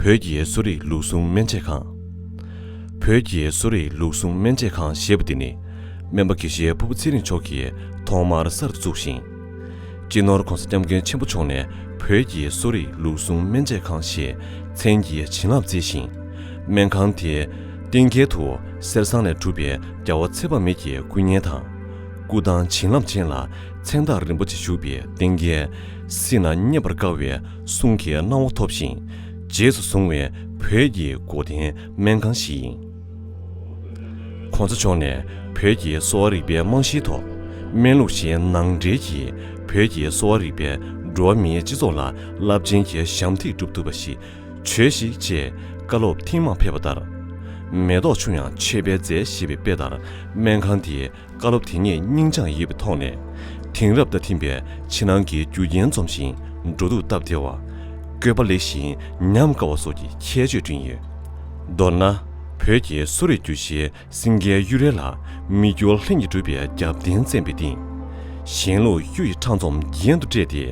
བོད་ཀྱི་གསོ་རིག་ལུགས་ཟུང་སྨན་དཔྱད་ཁང། བོད་ཀྱི་གསོ་རིག་ལུགས་ཟུང་སྨན་དཔྱད་ཁང་ཞེས་པ་འདི་ནི་སྨན་པ་དགེ་བཤེས་ཕུར་བུ་ཚེ་རིང་མཆོག་གིས་ཐོག་མར་གསར་དུ་བཙུགས་ཤིང། སྤྱི་ནོར ྋགོང་ས ྋསྐྱབས་མགོན་ཆེན་པོ་མཆོག་ནས་བོད་ཀྱི་གསོ་རིག་ལུགས་ཟུང་སྨན་དཔྱད་ཁང་ཞེས་མཚན་གྱི་བྱིན་རླབས་བསྩལ་ཞིང། སྨན་ཁང་དེའི་སྟེང་རྒྱལ་དུ་གསེར་ཟངས་ལས་གྲུབ་པའི་རྒྱ་བོ་ཚེ་དཔག་མེད་ཀྱི་སྐུ་བརྙན་དང། སྐུ་ཐང་བྱིན་རླབས་ཅན་ལ་མཚན་རྟགས་རིན་པོ་ཆེ་བཞུགས་པའི་སྟེང་རྒྱལ་སྲིད་ན་རྙེད་པར་དཀའ་བའི་གསུང་གི་སྣང་བ་ཐོབ་ཞིང་རྗེས་སུ་བཟུང་བའི་བོད་ཀྱི་སྒོ་བསྟེན་སྨན་ཁང་ཞིག་ཡིན། གོང་ས་མཆོག་ནས་བོད་ཀྱི་གསོ་བ་རིག་པའི་རྨང་གཞིའི་ཐོག་སྨན་ལུགས་གཞན་ནང་འདྲེས་ཀྱིས་བོད་ཀྱི་གསོ་བ་རིག་པས་འགྲོ་བ་མིའི་སྤྱི་ཚོགས་ལ་རླབས་ཆེན་གྱི་ཞབས་འདེགས་བསྒྲུབ་ཐུབ་པ་ཞིག་བྱོས་ཤིག་ཅེས་བཀའ་སློབ་ཐེངས་མང་ཕེབས་པ་ལྟར། མེ་ཏོག་ཆུང་ཡང་མཆོད་པའི་རྫས་ཞེས་པའི་དཔེ་ལྟར་སྨན་ཁང་དེའི་བཀའ་སློབ་དེ་ཉིད་སྙིང་བཅངས་ཡིད་པའི་ཐོག་ནས། དེང་རབས་རྟ་ཐིམ་པའི་ཕྱི་ནང་གི་རྒྱུ་རྐྱེན་འཛོམས་ཤིང་འགྲོ་འདུག་སྟབས་བདེ་བ། བཀོད་པ་ལེགས་ཤིང་ཉམས་དཀར་བ་སོགས་ཀྱི་ཁྱད་ཆོས་བསྐྲུན་ཡོད། མདོར་ན། བོད་ཀྱི་གསོ་རིག་རྒྱུད་བཞིའི་སེང་གེའི་གཡུ་རལ་ལ་མི་འགྱུར་ལྷུན་གྱིས་གྲུབ་པའི་རྒྱབ་རྟེན་བརྩེན་པའི་སྟེང། གཞན་ལུགས་གཡུ་ཡི་ཕྲ་འཛོམས་རྒྱན་དུ་སྤྲས་ཏེ།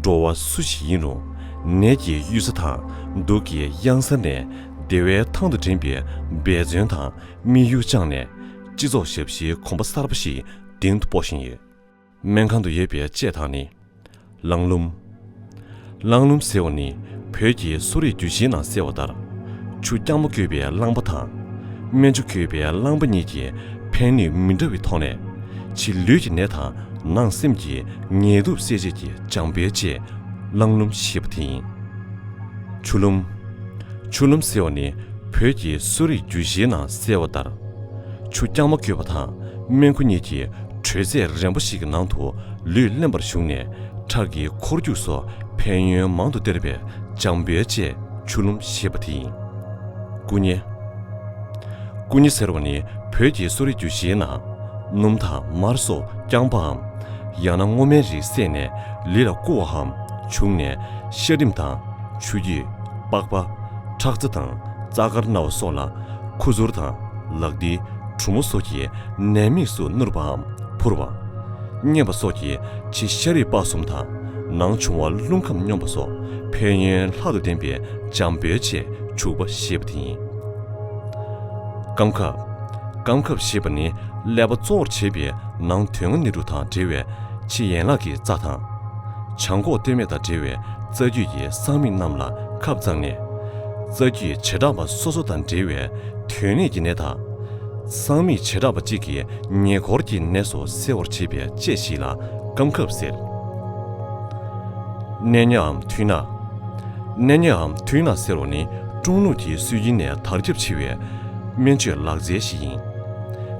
འགྲོ་བ་སུ་ཞིག་ཡིན་རུང་ནད་ཀྱི་གཡུལ་ས་དང་སྡུག་གི་གཡང་ས་ནས་བདེ་བའི་ཐང་དུ་འདྲེན་པའི་འབད་བརྩོན་དང་དམིགས་ཡུལ་བཅངས་ནས། སྤྱི་ཚོགས་ཞབས་ཕྱིའི་གོམ་པ་གསར་པ་ཞིག་གདིང་དུ་སྤོ་བཞིན་ཡོད། སྨན་ཁང་དུ་ཡོད་པའི་དཔྱད་ཐང་ནི། ལང་ལུམ། ལང་ལུམ་ཟེར་བ་ནི་བོད་ཀྱི་གསོ་རིག་རྒྱུད་ཆེན་ནང་གསལ་བ་ལྟར། ཆུ་རྐྱང་མོ་བསྐྱོད་པའི་རླངས་པ་དང། སྨན་ཆུ་བསྐྱོད་པའི་རླངས་པ་གཉིས་ཀྱི་ཕན་ནུས་མི་འདྲ་བའི་ཐོག་ནས། ཕྱི་ལུས་ཀྱི་ནད་དང་ནང་སེམས་ཀྱི་ངལ་དུབ་སེལ་བྱེད་ཀྱི་སྦྱངས་འབེལ་བཅས་ལང་ལུམ་ཞེས་པ་དེ་ཡིན། ཆུ་ལུམ། ཆུ་ལུམ་ཟེར་བ་ནི་བོད་ཀྱི་གསོ་རིག་རྒྱུད་གཞིའི་ནང་གསལ་བ་ལྟར། ཆུ་རྐྱང་མ་བསྐྱོད་པ་དང་སྨན་ཁུ་གཉིས་ཀྱི་དྲོད་ཚད་རན་པོ་ཞིག་གི་ནང་དུ་ལུས་བརླན་པར་བཞུགས་ནས་ཁྲག་གི་འཁོར་རྒྱུག་སོགས་ཕན་ཡོན་མང་དུ་སྟེར་བའི་འཇམ་དཔལ་བཅས་ཆུ་ལུམ་ཞེས་པ་དེ་ཡིན། སྐུ་བརྙན། སྐུ་བརྙན་ཟེར་བ་ནི་བོད་ཀྱི་གསོ་རིག་རྒྱུད་བཞིའི་ནང། སྣུམ་དང་མར་སོགས་རྐྱང་པའམ། ཡང་ན་སྔོ་སྨན་རིགས་བསྲེས་ནས་ལི་ལ་བསྐུ་བའམ་བྱུགས་ནས་ཤ་རིམས་དང། ཆུ་རྒྱུས། པགས་པ། ཁྲག་རྩ་དང་རྩ་དཀར་རྣ་བ་སོགས་ལ་ཁུ་ཚུར་དང་ལག་མཐིལ་གྲུ་མོ་སོགས་ཀྱིས་ནད་དམིགས་སུ་བསྣུར་བའམ་འཕུར་བ། མཉེན་པ་སོགས་ཀྱིས་ཕྱི་ཤ་རིགས་དཔའ་གསུམ་དང་ནང་འབྱུང་བ་རླུང་ཁམས་སྙོམས་པ་སོགས་ཕན་ཡོན་ལྷག་ཏུ་ལྡན་པའི་འཇམ་དཔལ་ཆེས་བྱུག་པ་ཞེས་པ་དེ་ཡིན། སྐམ་ཁབ། སྐམ་ཁབ་ཞེས་པ་ནི་ཀླད་པ་གཙོ་བོར་བྱེད་པའི་ནང་དོན་ངོ་ནི་རུ་དང་འབྲེལ་བའི་ཕྱི་ཡན་ལག་གི་རྩ་དང། བྱང་ཁོག་སྟོད་སྨད་དང་འབྲེལ་བའི་རྩ་རྒྱུད་ཀྱི་གསང་དམིགས་རྣམས་ལ་ཁབ་བརྩམས་ནས། རྩ་རྒྱུད་བྱེ་བྲག་པ་སོ་སོ་དང་འབྲེལ་བའི་དོན་གནད་ཀྱི་ནད་དང། གསང་མིག་བྱེ་བྲག་པ་གཅིག་གི་ཉེ་འཁོར་གྱི་ནད་སོགས་སེལ་བར་བྱེད་པའི་དཔྱད་གཞི་ལ་སྐམ་ཁབ་ཟེར། གནས་ཉའམ་ཐུན་ནག། གནས་ཉའམ་ཐུན་ནག་ཟེར་བ་ནི་ཀྲུང་ལུགས་ཀྱི་སྲོལ་རྒྱུན་ནས་དར་ཁྱབ་ཆེ་བའི་སྨན་བཅོས་ལག་རྩལ་ཞིག་ཡིན།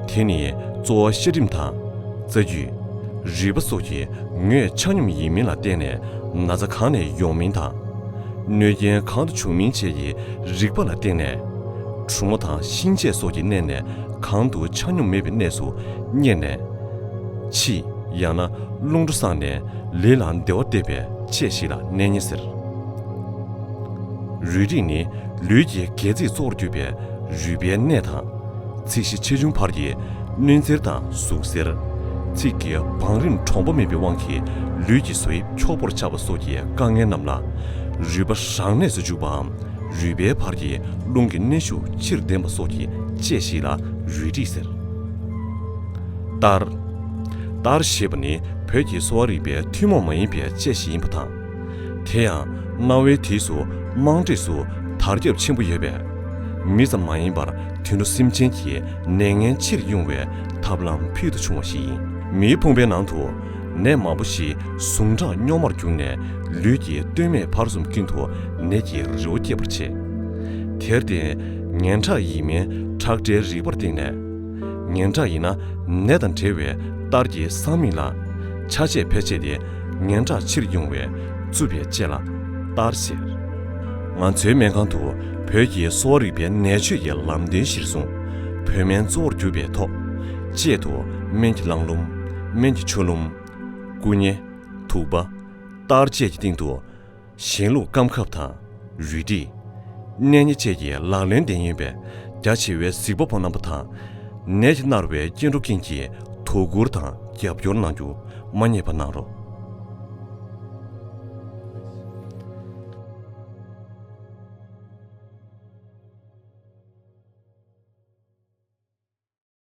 དེ་ནི་གཙོ་བོ་གཤེར་རིམས་དང། རྩ་རྒྱུད། རིད་པ་སོགས་ཀྱི་ངོས་ཆ་སྙོམས་ཡིན་མིན་ལ་བརྟེན་ནས་ན་ཚ་གང་ནས་ཡོང་མིན་དང། གནོད་རྐྱེན་གང་དུ་བྱུང་མིན་བཅས་ཀྱི་རིག་པ་ལ་བརྟེན་ནས། གྲུ་མོ་དང་གཤིན་རྗེ་སོགས་ཀྱི་གནས་ནས་གང་དུ་ཆ་སྙོམས་མེད་པའི་གནས་སུ་གཉེར་ནས། ཕྱིས་ཡང་ན་རླུང་འགྲོ་སངས་ནས་ལུས་ལ་བདེ་བ་སྟེར་བའི་དཔྱད་ཞིག་ལ་གནས་ངེས་ཟེར། རུས་རིགས་ནི་ལུས་ཀྱི་སྒལ་ཚིགས་གཙོ་བོར་གྱུར་པའི་རུས་པའི་གནས་དང། ཚིག་བཞི་ཆེ་ཆུང་བར་གྱི་གནོད་འཚེར་དང་ཟུག་གཟེར། ཚིག་གི་བང་རིམ་གྲོང་པོ་མིན་པའི་དབང་གིས་ལུས་ཀྱི་བཟོ་དབྱིབས་འཁྱོག་པོར་ཆགས་པ་སོགས་ཀྱི་དཀའ་ངལ་རྣམས་ལ། རུས་པ་རང་གནས་སུ་འཇུག་པའམ་རུས་པའི་བར་གྱི་རླུང་གི་གནས་ཤུགས་ཕྱིར་འདེམས་པ་སོགས་ཀྱི་དཔྱད་གཞི་ལ་རུས་འདྲིས་ཟེར། གཏར། གཏར་ཞེས་པ་ནི་བོད་ཀྱི་གསོ་བ་རིག་པའི་ཐུན་མོང་མ་ཡིན་པའི་དཔྱད་གཞི་ཡིན་པ་དང། དེ་ཡང་གནའ་བོའི་དུས་སུ་དམངས་ཁྲོད་སུ་དར་ཁྱབ་ཆེན་པོ་ཡོད་པས། མི་ཙམ་མ་ཡིན་པར་དུད་འགྲོ་སེམས་ཅན་གྱི་ནད་ངན་ཕྱིར་དབྱུང་བའི་ཐབས་ལམ་ཕུལ་དུ་བྱུང་བ་ཞིག་ཡིན། མིའི་ཕུང་པོའི་ནང་དུ་ནད་མང་པོ་ཞིག་ཟུངས་ཁྲག་རྙོག་མར་གྱུར་ནས་ལུས་ཀྱི་སྟོད་སྨད་བར་གསུམ་ཀུན་ཏུ་ནད་ཀྱི་རི་བོ་སྐྱེད་པར་བྱེད། དེར་བརྟེན། ངན་ཁྲག་ཡིན་མིན་ཁྲག་སྒྲའི་རིག་པར་བརྟེན་ནས། ངན་ཁྲག་ཡིན་ན་ནད་དང་འབྲེལ་བའི་གཏར་གྱི་སྲང་མིག་ལ། ཆ་བྱད་ཕལ་ཆེ་སྟེ། ངན་དྲག་ཕྱིར་དབྱུང་བའི་རྩུབ་པའི་ལྕེ་ལ་ལྟར་གཟེར། ང་ཚོའི་སྨན་ཁང་དུ་བོད་ཀྱི་གསོ་བ་རིག་པའི་ནད་བཅོས་ཀྱི་ལམ་སྟོན་གཞིར་བཟུང། བོད་སྨན་གཙོ་བོར་གྱུར་པའི་ཐོག། དཔྱད་དུ་སྨན་གྱི་རླངས་ལུམ། སྨན་གྱི་ཆུ་ལུམ། སྐུ་བརྙན། དུག་པ། གཏར་བཅས་ཀྱི་སྟེང་དུ། གཞན་ལུགས་སྐམ་ཁབ་དང། རུས་དྲི། གནས་ཉེ་བཅས་ཀྱི་ལག་ལེན་ལྡན་ཡིན་པས་རྒྱ་ཆེ་བའི་གཟིགས་པ་པོ་རྣམ་པ་དང། ནད་ཀྱིས་མནར་བའི་སྐྱེ་འགྲོ་ཀུན་གྱིས་དོ་ཁུར་དང་རྒྱབ་སྐྱོར་གནང་རྒྱུ་མ་རྙེད་པ་གནང་རོགས།